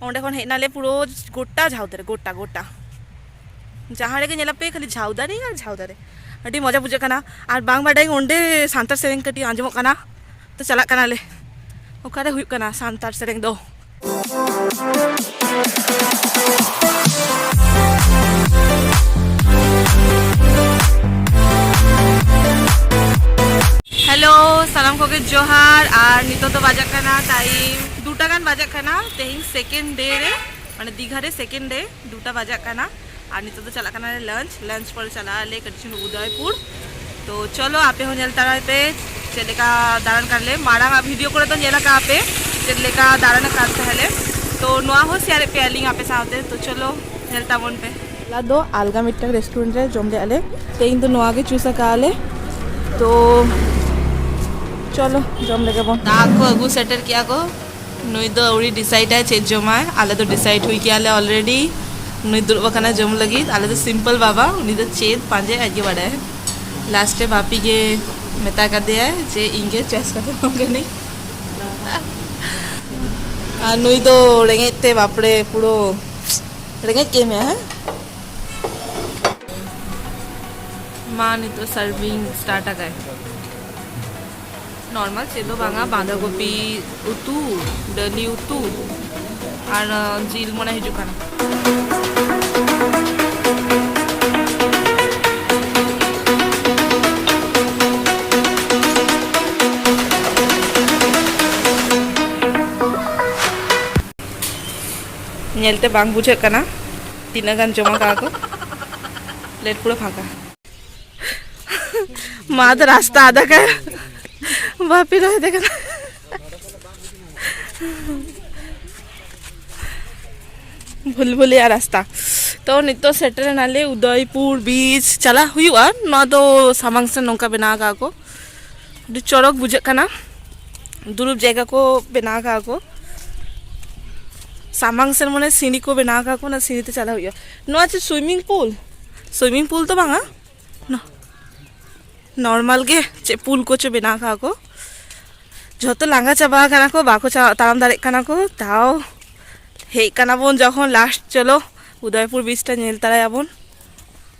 ᱚᱸᱰᱮ ᱠᱷᱚᱱ ᱦᱮᱡ ᱱᱟᱞᱮ ᱯᱩᱨᱟᱹ ᱜᱚᱴᱟ ᱡᱷᱟᱣ ᱫᱟᱨᱮ ᱜᱚᱴᱟ ᱜᱚᱴᱟ ᱡᱟᱦᱟᱸ ᱨᱮᱜᱮ ᱧᱮᱞ ᱯᱮ ᱠᱷᱟᱹᱞᱤ ᱡᱷᱟᱣ ᱫᱟᱨᱮ ᱟᱨ ᱡᱷᱟᱣ ᱫᱟᱨᱮ ᱟᱹᱰᱤ ᱢᱚᱡᱟ ᱵᱩᱡᱷᱟᱹᱜ ᱠᱟᱱᱟ ᱟᱨ ᱵᱟᱝ ᱵᱟᱰᱟᱭ ᱚᱸᱰᱮ ᱥᱟᱱᱛᱟᱲ ᱥᱮᱨᱮᱧ ᱠᱟᱹᱴᱤᱡ ᱟᱸᱡᱚᱢᱚᱜ ᱠᱟᱱᱟ ᱛᱚ ᱪᱟᱞᱟᱜ ᱠᱟᱱᱟᱞᱮ ᱚᱠᱟᱨᱮ ᱦᱩᱭᱩᱜ ᱠᱟᱱᱟ ᱥᱟᱱᱛᱟᱲ ᱥᱮᱨᱮᱧ ᱫᱚ ᱦᱮᱞᱳ ᱥᱟᱱᱟᱢ ᱠᱚᱜᱮ ᱡᱚᱦᱟᱨ ᱟᱨ ᱱᱤᱛᱚᱜ ᱫᱚ ᱵᱟᱡᱟᱜ ᱠᱟᱱᱟ ᱴᱟᱭᱤᱢ ᱫᱩᱴᱟ ᱜᱟᱱ ᱵᱟᱡᱟᱜ ᱠᱟᱱᱟ ᱛᱮᱦᱮᱧ ᱥᱮᱠᱮᱱᱰ ᱰᱮ ᱨᱮ ᱢᱟᱱᱮ ᱫᱤᱜᱷᱟ ᱨᱮ ᱥᱮᱠᱮᱱᱰ ᱰᱮ ᱫᱩᱴᱟ ᱵᱟᱡᱟᱜ ᱠᱟᱱᱟ ᱟᱨ ᱱᱤᱛᱚᱜ ᱫᱚ ᱪᱟᱞᱟᱜ ᱠᱟᱱᱟ ᱞᱮ ᱞᱟᱱᱪ ᱞᱟᱱᱪ ᱯᱚᱨᱮ ᱪᱟᱞᱟᱜ ᱟᱞᱮ ᱠᱟᱹᱴᱤᱡ ᱪᱩᱞᱩᱝ ᱩᱫᱚᱭᱯᱩᱨ ᱛᱚ ᱪᱚᱞᱚ ᱟᱯᱮ ᱦᱚᱸ ᱧᱮᱞ ᱛᱟᱨᱟᱭ ᱯᱮ ᱪᱮᱫ ᱞᱮᱠᱟ ᱫᱟᱬᱟᱱ ᱠᱟᱱᱟᱞᱮ ᱢᱟᱲᱟᱝ ᱟᱜ ᱵᱷᱤᱰᱤᱭᱳ ᱠᱚᱨᱮ ᱫᱚ ᱧᱮᱞ ᱟᱠᱟᱫ ᱟᱯᱮ ᱪᱮᱫ ᱞᱮᱠᱟ ᱫᱟᱬᱟᱱ ᱠᱟᱱ ᱛᱟᱦᱮᱸᱞᱮ ᱛᱚ ᱱᱚᱣᱟ ᱦᱚᱸ ᱥᱮᱭᱟᱨᱮᱫ ᱯᱮᱭᱟᱞᱤᱧ ᱟᱯᱮ ᱥᱟᱶᱛᱮ ᱛᱚ ᱪᱚᱞᱚ ᱧᱮᱞ ᱛᱟᱵᱚᱱ ᱯᱮ ᱦᱚᱞᱟ ᱫᱚ ᱟᱞᱜᱟ ᱢᱤᱫᱴᱟᱝ ᱨᱮᱥᱴᱩᱨᱮᱱᱴ ᱨᱮ ᱡᱚᱢ ᱞᱮᱫᱼᱟ ᱞᱮ ᱛᱮᱦᱮᱧ ᱫᱚ ᱱᱚᱣᱟ ᱜᱮ ᱪᱩᱥ ᱟᱠᱟᱫᱼᱟ ᱞᱮ ᱛᱚ ᱪᱚᱞᱚ ᱡᱚᱢ ᱞᱮᱜᱮ ᱵᱚᱱ ᱫᱟᱜ ᱠᱚ ᱟᱹᱜᱩ ᱥᱮᱴᱮᱨ ᱠᱮᱜᱼᱟ ᱠᱚ ᱱᱩᱭ ᱫᱚ ᱟᱹᱣᱲᱤ ᱰᱤᱥᱟᱭᱤᱰᱟᱭ ᱪᱮᱫ ᱡᱚᱢᱟᱭ ᱟᱞᱮ ᱫᱚ ᱰᱤᱥᱟᱭᱤᱰ ᱦᱩᱭ ᱠᱮᱜᱼᱟ ᱞᱮ ᱚᱞᱨᱮᱰᱤ ᱱᱩᱭ ᱫᱩᱲᱩᱵ ᱟᱠᱟᱱᱟ ᱡᱚᱢ ᱞᱟᱹᱜᱤᱫ ᱟᱞᱮ ᱫᱚ ᱥᱤᱢᱯᱚᱞ ᱵᱟᱵᱟ ᱩᱱᱤ ᱫᱚ ᱪᱮᱫ ᱯᱟᱸᱡᱟᱭ ᱟᱡ ᱜᱮ ᱵᱟᱰᱟᱭ ᱞᱟᱥᱴ ᱨᱮ ᱵᱟᱯᱤ ᱜᱮ ᱢᱮᱛᱟ ᱠᱟᱫᱮᱭᱟᱭ ᱡᱮ ᱤᱧ ᱜᱮ ᱪᱚᱭᱮᱥ ᱠᱟᱛᱮ ᱮᱢᱟᱢ ᱠᱟᱹᱱᱟᱹᱧ ᱟᱨ ᱱᱩᱭ ᱫᱚ ᱨᱮᱸᱜᱮᱡ ᱛᱮ ᱵᱟᱯᱨᱮ ᱯᱩᱨᱟᱹ ᱨᱮᱸᱜᱮᱡ ᱠᱮᱫ ᱢᱮᱭᱟ ᱦᱮᱸ ᱢᱟ ᱱᱤᱛᱚᱜ ᱥᱟᱨᱵᱷᱤᱝ ᱥᱴᱟᱨᱴ ᱟᱠᱟᱭ ᱱᱚᱨᱢᱟᱞ ᱪᱮᱫ ᱫᱚ ᱵᱟᱝᱟ ᱵᱟᱸᱫᱷᱟ ᱠᱚᱯᱤ ᱩᱛᱩ ᱰᱟᱹᱞᱤ ᱩᱛᱩ ᱟᱨ ᱡᱤᱞ ᱢᱚᱱᱮ ᱦᱤᱡᱩᱜ ᱠᱟᱱᱟ ᱧᱮᱞᱛᱮ ᱵᱟᱝ ᱵᱩᱡᱷᱟᱹᱜ ᱠᱟᱱᱟ ᱛᱤᱱᱟᱹᱜ ᱜᱟᱱ ᱡᱚᱢᱟ ᱠᱟᱜᱼᱟ ᱠᱚ ᱯᱞᱮᱴ ᱯᱩᱨᱟᱹ ᱯᱷᱟᱸᱠᱟ ᱢᱟ ᱫᱚ ᱨᱟᱥᱛᱟ ᱟᱫᱟ ᱠᱟᱱ ᱵᱟᱯᱤ ᱨᱚᱦᱚᱭ ᱫᱮ ᱠᱟᱱᱟ ᱵᱷᱩᱞ ᱵᱷᱩᱞᱤᱭᱟ ᱨᱟᱥᱛᱟ ᱛᱚ ᱱᱤᱛᱚᱜ ᱥᱮᱴᱮᱨᱮᱱᱟᱞᱮ ᱩᱫᱚᱭᱯᱩᱨ ᱵᱤᱪ ᱪᱟᱞᱟᱜ ᱦᱩᱭᱩᱜᱼᱟ ᱱᱚᱣᱟ ᱫᱚ ᱥᱟᱢᱟᱝ ᱥᱮᱫ ᱱᱚᱝᱠᱟ ᱵᱮᱱᱟᱣ ᱠᱟᱜᱼᱟ ᱠᱚ ᱟᱹᱰᱤ ᱪᱚᱨᱚᱠ ᱵᱩᱡᱷᱟᱹᱜ ᱠᱟᱱᱟ ᱫᱩᱲᱩᱵ ᱡᱟᱭᱜᱟ ᱠᱚ ᱵᱮᱱᱟᱣ ᱠᱟᱜᱼᱟ ᱠᱚ ᱥᱟᱢᱟᱝ ᱥᱮᱱ ᱢᱟᱱᱮ ᱥᱤᱸᱲᱤ ᱠᱚ ᱵᱮᱱᱟᱣ ᱠᱟᱜᱼᱟ ᱠᱚ ᱚᱱᱟ ᱥᱤᱸᱲᱤ ᱛᱮ ᱪᱟᱞᱟᱣ ᱦᱩᱭᱩᱜᱼᱟ ᱱᱚᱣᱟ ᱪᱮᱫ ᱥᱩᱭᱢᱤᱝ ᱯᱩᱞ ᱥᱩᱭᱢᱤᱝ ᱯᱩᱞ ᱫᱚ ᱵᱟᱝᱟ ᱱᱚᱨᱢᱟᱞ ᱜᱮ ᱪᱮᱫ ᱯᱩᱞ ᱠᱚᱪᱚ ᱵᱮᱱᱟᱣ ᱠᱟᱜᱼᱟ ᱠᱚ ᱡᱷᱚᱛᱚ ᱞᱟᱸᱜᱟ ᱪᱟᱵᱟ ᱠᱟᱱᱟ ᱠᱚ ᱵᱟᱠᱚ ᱛᱟᱲᱟᱢ ᱫᱟᱲᱮᱜ ᱠᱟᱱᱟ ᱠᱚ ᱛᱟᱣ ᱦᱮᱡ ᱠᱟᱱᱟ ᱵᱚᱱ ᱡᱚᱠᱷᱚᱱ ᱞᱟᱥᱴ ᱪᱚᱞᱚ ᱩᱫᱚᱭᱯᱩᱨ ᱵᱤᱪ ᱴᱟ ᱧᱮᱞ ᱛᱟᱨᱟᱭᱟᱵᱚᱱ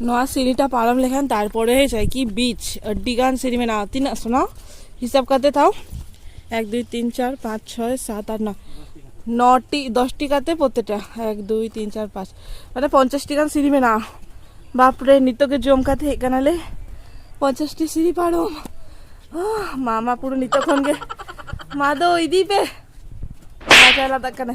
ᱱᱚᱣᱟ ᱥᱤᱲᱤᱴᱟ ᱯᱟᱨᱚᱢ ᱞᱮᱠᱷᱟᱱ ᱛᱟᱨᱯᱚᱨᱮ ᱦᱮᱡᱟᱭ ᱠᱤ ᱵᱤᱪ ᱟᱹᱰᱤ ᱜᱟᱱ ᱥᱤᱲᱤ ᱢᱮᱱᱟᱜᱼᱟ ᱛᱤᱱᱟᱹᱜ ᱥᱚᱱᱟ ᱦᱤᱥᱟᱹᱵ ᱠᱟᱛᱮ ᱛᱟᱣ ᱮᱠ ᱫᱩᱭ ᱛᱤᱱ ᱪᱟᱨ ᱯᱟᱸᱪ ᱪᱷᱚᱭ ᱥᱟᱛ ᱟᱴ ᱱᱚ ᱱᱚᱴᱤ ᱫᱚᱥᱴᱤ ᱠᱟᱛᱮ ᱯᱨᱚᱛᱮᱠᱴᱟ ᱮᱠ ᱫᱩᱭ ᱛᱤᱱ ᱪᱟᱨ ᱯᱟᱸᱪ ᱢᱟᱱᱮ ᱯᱚᱧᱪᱟᱥᱴᱤ ᱜᱟᱱ ᱥᱤᱲᱤ ᱢᱮᱱᱟᱜᱼᱟ ᱵᱟᱯᱨᱮ ᱱᱤᱛᱚᱜ ᱜᱮ ᱡᱚᱢ ᱠᱟᱛᱮ ᱦᱮᱡ ᱠᱟᱱᱟᱞᱮ ᱯᱚᱧᱪᱟᱥᱴᱤ ᱥᱤᱲᱤ ᱯᱟᱨᱚᱢ ᱢᱟ ᱢᱟ ᱯᱩᱨᱟᱹ ᱱᱤᱛᱚᱜ ᱠᱷᱚᱱ ᱜᱮ ᱢᱟ ᱫᱚ ᱤᱫᱤ ᱯᱮ ᱢᱟ ᱪᱟᱞᱟᱜ ᱠᱟᱱᱟ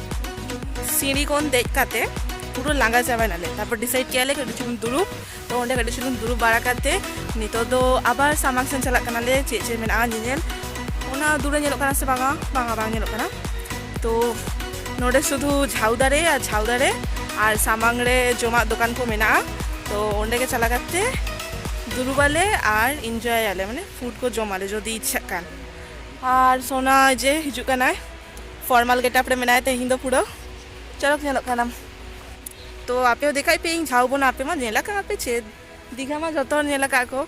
ᱥᱤᱸᱲᱤ ᱠᱷᱚᱱ ᱫᱮᱡ ᱠᱟᱛᱮ ᱯᱩᱨᱟᱹ ᱞᱟᱸᱜᱟ ᱪᱟᱵᱟᱭᱱᱟᱞᱮ ᱛᱟᱨᱯᱚᱨ ᱰᱤᱥᱟᱭᱤᱰ ᱠᱮᱭᱟᱞᱮ ᱠᱟᱹᱴᱤᱡ ᱪᱩᱞᱩᱝ ᱫᱩᱲᱩᱵ ᱛᱚ ᱚᱸᱰᱮ ᱠᱟᱹᱴᱤᱡ ᱪᱩᱞᱩᱝ ᱫᱩᱲᱩᱵ ᱵᱟᱲᱟ ᱠᱟᱛᱮ ᱱᱤᱛᱚᱜ ᱫᱚ ᱟᱵᱟᱨ ᱥᱟᱢᱟᱝ ᱥᱮᱱ ᱪᱟᱞᱟᱜ ᱠᱟᱱᱟᱞᱮ ᱪᱮᱫ ᱪᱮᱫ ᱢᱮᱱᱟᱜᱼᱟ ᱧᱮᱧᱮᱞ ᱚᱱᱟ ᱫᱩᱨᱮ ᱧᱮᱞᱚᱜ ᱠᱟᱱᱟ ᱥᱮ ᱵᱟᱝᱟ ᱵᱟᱝᱟ ᱵᱟᱝ ᱧᱮᱞᱚᱜ ᱠᱟᱱᱟ ᱛᱚ ᱱᱚᱰᱮ ᱥᱩᱫᱷᱩ ᱡᱷᱟᱣ ᱫᱟᱨᱮ ᱟᱨ ᱡᱷᱟᱣ ᱫᱟᱨᱮ ᱟᱨ ᱥᱟᱢᱟᱝ ᱨᱮ ᱡᱚᱢᱟᱜ ᱫᱚᱠᱟᱱ ᱠᱚ ᱢᱮᱱᱟᱜᱼᱟ ᱛᱚ ᱚᱸᱰᱮ ᱜᱮ ᱪᱟᱞᱟᱣ ᱠᱟᱛᱮ ᱫᱩᱲᱩᱵᱟᱞᱮ ᱟᱨ ᱤᱱᱡᱚᱭᱟᱞᱮ ᱢᱟᱱᱮ ᱯᱷᱩᱰ ᱠᱚ ᱡᱚᱢᱟᱞᱮ ᱡᱩᱫᱤ ᱤᱪᱪᱷᱟᱜ ᱠᱟᱱ ᱟᱨ ᱥᱚᱱᱟ ᱡᱮ ᱦᱤᱡᱩᱜ ᱠᱟᱱᱟᱭ ᱯᱷᱚᱨᱢᱟᱞ ᱜᱮᱴᱟᱯ ᱨᱮ ᱢᱮᱱᱟᱭᱟ ᱛᱮᱦᱮᱧ ᱫᱚ ᱯᱩᱨᱟᱹ ᱪᱚᱨᱚᱠ ᱧᱮᱞᱚᱜ ᱠᱟᱱᱟᱢ ᱛᱚ ᱟᱯᱮ ᱦᱚᱸ ᱫᱮᱠᱷᱟᱭ ᱯᱮ ᱤᱧ ᱡᱷᱟᱣᱵᱚᱱᱟ ᱟᱯᱮ ᱢᱟ ᱧᱮᱞ ᱟᱠᱟᱫ ᱟᱯᱮ ᱪᱮᱫ ᱫᱤᱜᱷᱟ ᱢᱟ ᱡᱚᱛᱚ ᱦᱚᱲ ᱧᱮᱞ ᱟᱠᱟᱫ ᱠᱚ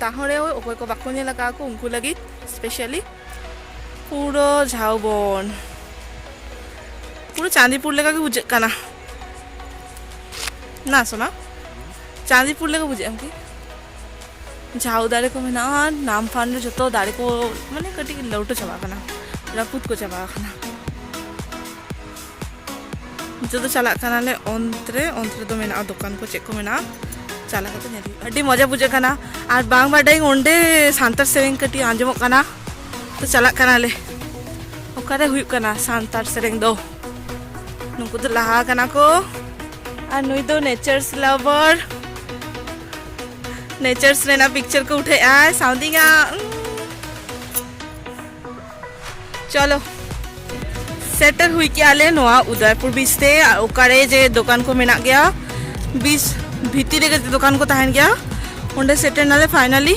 ᱛᱟᱦᱚᱸ ᱨᱮ ᱚᱠᱚᱭ ᱠᱚ ᱵᱟᱠᱚ ᱧᱮᱞ ᱟᱠᱟᱫ ᱠᱚ ᱩᱱᱠᱩ ᱞᱟᱹᱜᱤᱫ ᱥᱯᱮᱥᱟᱞᱤ ᱯᱩᱨᱟᱹ ᱡᱷᱟᱣᱵᱚᱱ ᱯᱩᱨᱟᱹ ᱪᱟᱸᱫᱤᱯᱩᱨ ᱞᱮᱠᱟ ᱜᱮ ᱵᱩᱡᱷᱟᱹᱜ ᱠᱟᱱᱟ ᱱᱟ ᱥᱚᱱᱟ ᱪᱟᱸᱫᱤᱯᱩᱨ ᱞᱮᱠᱟ ᱵᱩᱡᱷᱟᱹᱜ ᱟᱢ ᱠᱤ ᱡᱷᱟᱣ ᱫᱟᱨᱮ ᱠᱚ ᱢᱮᱱᱟᱜᱼᱟ ᱟᱨ ᱱᱟᱢ ᱯᱷᱟᱱ ᱨᱮ ᱡᱚᱛᱚ ᱫᱟᱨᱮ ᱠᱚ ᱢᱟᱱᱮ ᱠᱟᱹᱴᱤᱡ ᱞᱟᱹᱣᱴᱟᱹ ᱪᱟᱵᱟᱜ ᱠᱟᱱᱟ ᱨᱟᱹᱯᱩᱫ ᱠᱚ ᱪᱟᱵᱟ ᱟᱠᱟᱱᱟ ᱱᱤᱛᱚᱜ ᱫᱚ ᱪᱟᱞᱟᱜ ᱠᱟᱱᱟᱞᱮ ᱚᱱᱛᱨᱮ ᱚᱱᱛᱨᱮ ᱫᱚ ᱢᱮᱱᱟᱜᱼᱟ ᱫᱚᱠᱟᱱ ᱠᱚ ᱪᱮᱫ ᱠᱚ ᱢᱮᱱᱟᱜᱼᱟ ᱪᱟᱞᱟᱣ ᱠᱟᱛᱮ ᱧᱮᱞ ᱦᱩᱭᱩᱜᱼᱟ ᱟᱹᱰᱤ ᱢᱚᱡᱟ ᱵᱩᱡᱷᱟᱹᱜ ᱠᱟᱱᱟ ᱟᱨ ᱵᱟᱝ ᱵᱟᱰᱟᱭᱟᱹᱧ ᱚᱸᱰᱮ ᱥᱟᱱᱛᱟᱲ ᱥᱮᱨᱮᱧ ᱠᱟᱹᱴᱤᱡ ᱟᱸᱡᱚᱢᱚᱜ ᱠᱟᱱᱟ ᱛᱚ ᱪᱟᱞᱟᱜ ᱠᱟᱱᱟᱞᱮ ᱚᱠᱟᱨᱮ ᱦᱩᱭᱩᱜ ᱠᱟᱱᱟ ᱥᱟᱱᱛᱟᱲ ᱥᱮᱨᱮᱧ ᱫᱚ ᱱᱩᱠᱩ ᱫᱚ ᱞᱟᱦᱟ ᱠᱟᱱᱟ ᱠᱚ ᱟᱨ ᱱᱩᱭ ᱫᱚ ᱱᱮᱪᱟᱨᱥ ᱞᱟᱵᱷᱟᱨ ᱱᱮᱪᱟᱨᱥ ᱨᱮᱱᱟᱜ ᱯᱤᱠᱪᱟᱨ ᱠᱚ ᱩᱴᱷᱟᱹᱣᱮᱜᱼᱟ ᱥᱟᱶᱫᱤᱧᱟ ᱪᱚᱞᱚ ᱥᱮᱴᱮᱨ ᱦᱩᱭ ᱠᱮᱜᱼᱟ ᱞᱮ ᱱᱚᱣᱟ ᱩᱫᱚᱭᱯᱩᱨ ᱵᱤᱪ ᱛᱮ ᱟᱨ ᱚᱠᱟᱨᱮ ᱡᱮ ᱫᱚᱠᱟᱱ ᱠᱚ ᱢᱮᱱᱟᱜ ᱜᱮᱭᱟ ᱵᱤᱪ ᱵᱷᱤᱛᱤᱨ ᱨᱮᱜᱮ ᱫᱚᱠᱟᱱ ᱠᱚ ᱛᱟᱦᱮᱱ ᱜᱮᱭᱟ ᱚᱸᱰᱮ ᱥᱮᱴᱮᱨ ᱱᱟᱞᱮ ᱯᱷᱟᱭᱱᱟᱞᱤ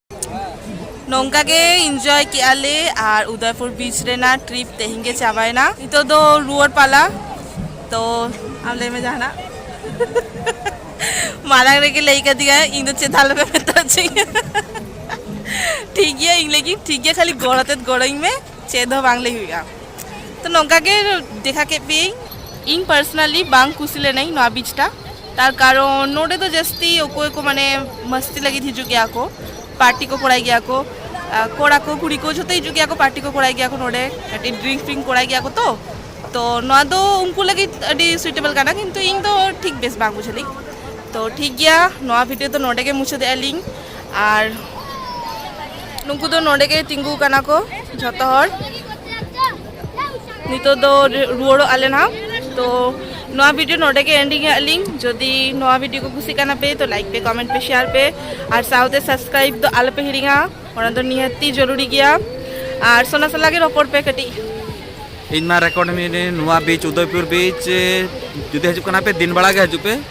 ᱱᱚᱝᱠᱟ ᱜᱮ ᱤᱱᱡᱚᱭ ᱠᱮᱜᱼᱟ ᱞᱮ ᱟᱨ ᱩᱫᱚᱭᱯᱩᱨ ᱵᱤᱪ ᱨᱮᱱᱟᱜ ᱴᱨᱤᱯ ᱛᱮᱦᱮᱧ ᱜᱮ ᱪᱟᱵᱟᱭᱮᱱᱟ ᱱᱤᱛᱚᱜ ᱫᱚ ᱨᱩᱣᱟᱹᱲ ᱯᱟᱞᱟ ᱛᱚ ᱟᱢ ᱞᱟᱹᱭ ᱢᱮ ᱡᱟᱦᱟᱱᱟᱜ ᱢᱟᱲᱟᱝ ᱨᱮᱜᱮ ᱞᱟᱹᱭ ᱠᱟᱫᱤᱧᱟ ᱤᱧ ᱫᱚ ᱪᱮᱫ ᱟᱞᱚᱯᱮ ᱢᱮᱛᱟᱪᱤᱧᱟ ᱴᱷᱤᱠ ᱜᱮᱭᱟ ᱤᱧ ᱞᱟᱹᱜᱤᱫ ᱴᱷᱤᱠ ᱜᱮᱭᱟ ᱠᱷᱟᱹᱞᱤ ᱜᱚᱲ ᱟᱛᱮᱫ ᱜᱚᱲᱚᱧ ᱢᱮ ᱪᱮᱫ ᱦᱚᱸ ᱵᱟᱝ ᱞᱟᱹᱭ ᱦᱩᱭᱩᱜᱼᱟ ᱛᱚ ᱱᱚᱝᱠᱟ ᱜᱮ ᱫᱮᱠᱷᱟ ᱠᱮᱫ ᱯᱮᱭᱟᱹᱧ ᱤᱧ ᱯᱟᱨᱥᱚᱱᱟᱞᱤ ᱵᱟᱝ ᱠᱩᱥᱤ ᱞᱮᱱᱟᱹᱧ ᱱᱚᱣᱟ ᱵᱤᱪᱴᱟ ᱛᱟᱨ ᱠᱟᱨᱚᱱ ᱱᱚᱰᱮ ᱫᱚ ᱡᱟᱹᱥᱛᱤ ᱚᱠᱚᱭ ᱠᱚ ᱢᱟᱱᱮ ᱢᱟᱥᱛᱤ ᱞᱟᱹᱜᱤᱫ ᱦᱤᱡᱩᱜ ᱜᱮᱭᱟ ᱠᱚ ᱯᱟᱨᱴᱤ ᱠᱚ ᱠᱚᱨᱟᱭ ᱜᱮᱭᱟ ᱠᱚ ᱠᱚᱲᱟ ᱠᱚ ᱠᱩᱲᱤ ᱠᱚ ᱡᱷᱚᱛᱚ ᱦᱤᱡᱩᱜ ᱜᱮᱭᱟ ᱠᱚ ᱯᱟᱨᱴᱤ ᱠᱚ ᱠᱚᱨᱟᱭ ᱜᱮᱭᱟ ᱠᱚ ᱱᱚᱰᱮ ᱠᱟᱹᱴᱤᱡ ᱰᱨᱤᱝᱠ ᱯᱷᱨᱤᱝ ᱠᱚᱨᱟᱭ ᱜᱮᱭᱟ ᱠᱚ ᱛᱚ ᱛᱚ ᱱᱚᱣᱟ ᱫᱚ ᱩᱱᱠᱩ ᱞᱟᱹᱜᱤᱫ ᱟᱹᱰᱤ ᱥᱩᱭᱴᱮᱵᱚᱞ ᱠᱟᱱᱟ ᱠᱤᱱᱛᱩ ᱤᱧ ᱫᱚ ᱴᱷᱤᱠ ᱵᱮᱥ ᱵᱟᱝ ᱵᱩᱡᱷᱟᱹᱣ ᱞᱤᱧ ᱛᱚ ᱴᱷᱤᱠ ᱜᱮᱭᱟ ᱱᱚᱣᱟ ᱵᱷᱤᱰᱤᱭᱳ ᱫᱚ ᱱᱚᱰᱮ ᱜᱮ ᱢᱩᱪᱟᱹᱫᱮᱜᱼᱟ ᱞᱤᱧ ᱟᱨ ᱱᱩᱠᱩ ᱫᱚ ᱱᱚᱰᱮ ᱜᱮ ᱛᱤᱸᱜᱩ ᱠᱟᱱᱟ ᱠᱚ ᱡᱷᱚᱛᱚ ᱦᱚᱲ ᱱᱤᱛᱚᱜ ᱫᱚ ᱨᱩᱣᱟᱹᱲᱚᱜ ᱟᱞᱮ ᱱᱟᱦᱟᱜ ᱛᱚ ᱱᱚᱣᱟ ᱵᱷᱤᱰᱤᱭᱳ ᱱᱚᱰᱮ ᱜᱮ ᱮᱱᱰᱤᱝ ᱮᱫ ᱞᱤᱧ ᱡᱩᱫᱤ ᱱᱚᱣᱟ ᱵᱷᱤᱰᱤᱭᱳ ᱠᱚ ᱠᱩᱥᱤᱜ ᱠᱟᱱᱟ ᱯᱮ ᱛᱚ ᱞᱟᱭᱤᱠ ᱯᱮ ᱠᱚᱢᱮᱱᱴ ᱯᱮ ᱥᱮᱭᱟᱨ ᱯᱮ ᱟᱨ ᱥᱟᱶᱛᱮ ᱥᱟᱵᱥᱠᱨᱟᱭᱤᱵ ᱫᱚ ᱟᱞᱚᱯᱮ ᱦᱤᱲᱤᱧᱟ ᱚᱱᱟ ᱫᱚ ᱱᱤᱦᱟᱹᱛᱤ ᱡᱚᱨᱩᱨᱤ ᱜᱮᱭᱟ ᱟᱨ ᱥᱚᱱᱟ ᱥᱟᱞᱟᱜ ᱜᱮ ᱨᱚᱯᱚᱲ ᱯᱮ ᱠᱟᱹᱴᱤᱡ ᱤᱧ ᱢᱟ ᱨᱮᱠᱚᱨᱰ ᱢᱤᱱᱟᱹᱧ ᱱᱚᱣᱟ ᱵᱤᱪ ᱩᱫᱚᱭᱯᱩᱨ ᱵᱤᱪ ᱡᱩᱫᱤ ᱦᱤᱡᱩᱜ ᱠᱟᱱᱟ ᱯᱮ ᱫᱤᱱ ᱵᱮᱲᱟ ᱜᱮ ᱦᱤᱡᱩᱜ ᱯᱮ